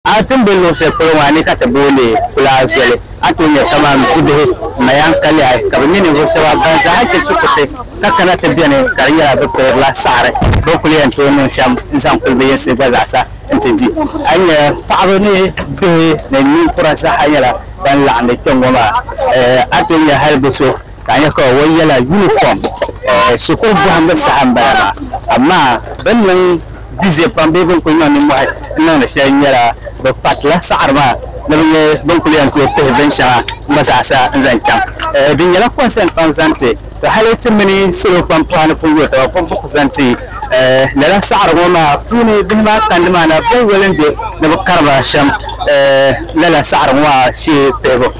A ti ni be luɣ shɛli polo maa ni ka ti booni kulaa zoli, a tooi nya kaman bibihi ma yɛn kalig a, ka bɛ nyɛ ninvuɣ shɛba ban zaaha chɛ shikuruti ka kana ti beni, ka di nyɛla bɛ pirigila saɣiri bɛ ni kul yɛn tooi niŋ shɛm n-zaŋ kul bɛ yinsi gba zaasa nti di. A ni nya paɣiba ni bihi ni ninkura zaaha nyɛla ban laɣindi kpɛŋŋɔ maa, a tooi nya hal bi so Ka a nya ka o yɛla yunifɔm shikuru bɔhimbu saha m-bala maa, amaa bɛ ni niŋ bize pam bee bɛ ni kul niŋ nimmɔhi n-niŋdi shɛli nyɛla bɛ kparila saɣiri maa ni bɛ nyɛ bɛ ni kul yɛn tooi pihi binshɛŋa gba zaasa n-zaŋ chaŋ. Di nyɛla kɔnsɛn pam zaŋ ti ka hali ti mini salo pam pɔɣa ni pun yo taba bɛ bi ku zaŋ ti lala saɣiri ŋɔ maa puuni bihi maa kandi maa na bɛ yoli n-je ni bɛ kari ba shɛm lala saɣiri ŋɔ maa shee pihibu.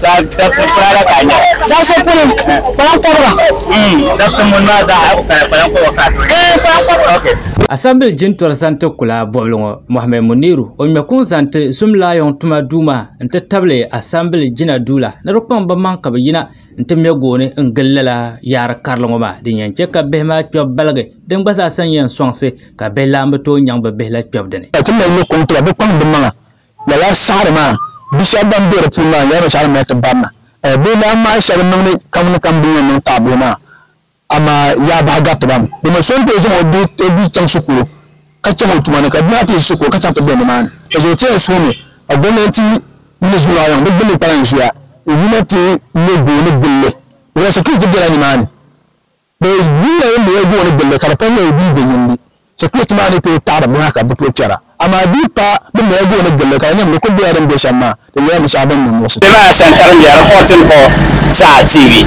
Dabisili puna la ka a nyɛra. Dabisili puni, kpalan kɔbiga. Mm, dabisili muni maa zaa a ku pala kpalan kɔbiga ka a tooi nyɛra. Ee, kpalan kɔbiga. Ok. Asambili jintɔri zaŋ ti kula bɔbili ŋɔ Mohammed Muniru o ŋmɛ kuŋ zaŋ ti Zim Laayɔŋ tuma duu maa n ti tabili Asambili jina duu la ni di kpaŋ ba maŋ ka bɛ yina n ti mɛ gooni n gili lala yaari karili ŋɔ maa din yɛn chɛ ka bihi maa kpɛbu baligi din gba zaasa n yɛn sɔŋsi ka bihi lahi bi tooi nyaŋ bɛ bihi la kpɛbu dini. Ka ti mali ni kuŋ ti ba bɛ kpaŋ ba maŋa Lala saɣiri maa, bi shɛba ban be di puuni maa nyɛla binshɛɣu din mali ti barina. Bɛ ni daa ŋmahi shɛli n-niŋ ni kam ni kam bɛ ni yɛn niŋ taɣi bihi maa, amaa yaa bahi gariti ba mi. Di ni so n-tooi zaŋ o bia chaŋ shikuru ka chaŋ o tuma ni, ka bia maa ti yi shikuru ka chaŋ ti be nimaani, ka zuɣu ti yɛn suhi mi ka gomnanti mini zuliɣiyaŋ bi gbinni kpalan zuya n-yina ti me gooni gili li. Wala sikiriti bela nimaani? Bɛ yuya ni mali gooni gili li ka di pam nyɛla di dii venyindi. Sikiriti maa ni tooi taɣiri buɣa ka bɛ tooi kpɛra. Amaa di yi pa bɛ ni mali gooni gili li ka di nyɛ bin'kuli bela din be shɛm maa, di nyɛla binshɛɣu bɛ ni niŋ muɣisigu. Kpɛmaa santa din be alipɔtini hɔɔ saha TV